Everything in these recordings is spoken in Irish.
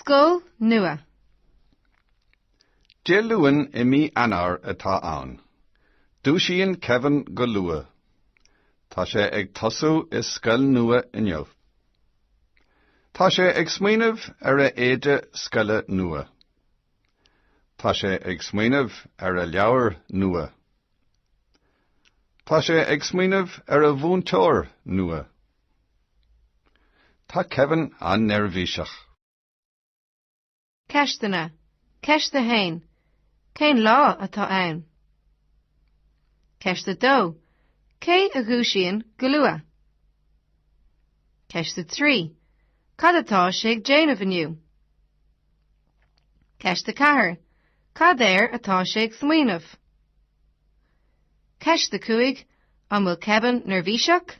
Scoil nua. Dé Luain i mí Eanáir atá ann. Dúisíonn Kevin go luath. Tá sé ag tosú i scoil nua inniu. Tá sé ag smaoineamh ar a éide scoile nua. Tá sé ag smaoineamh ar a leabhar nua. Tá sé ag smaoineamh ar a mhúinteoir nua. Tá Kevin an-neirbhíseach. Ceisteanna. Ceist a haon, Cén lá atá ann? Ceist a dó, Cé a dhúisíonn go luath? Ceist a trí, Cad atá sé ag déanamh inniu? Ceist a ceathair, Cad air atá sé ag smaoineamh? Ceist a cúig, An bhfuil Kevin neirbhíseach?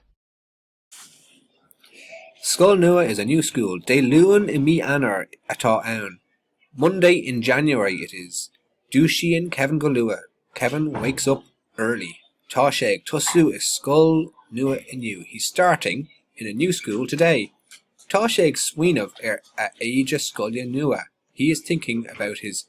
Scoil nua is a new school. Dé Luain i mí Eanáir atá ann Monday in January it is. Dúisíonn Kevin go luath. Kevin wakes up early. Tá sé ag tosú i scoil nua inniu. He's starting in a new school today. Tá sé ag smaoineamh ar a éide scoile nua. He is thinking about his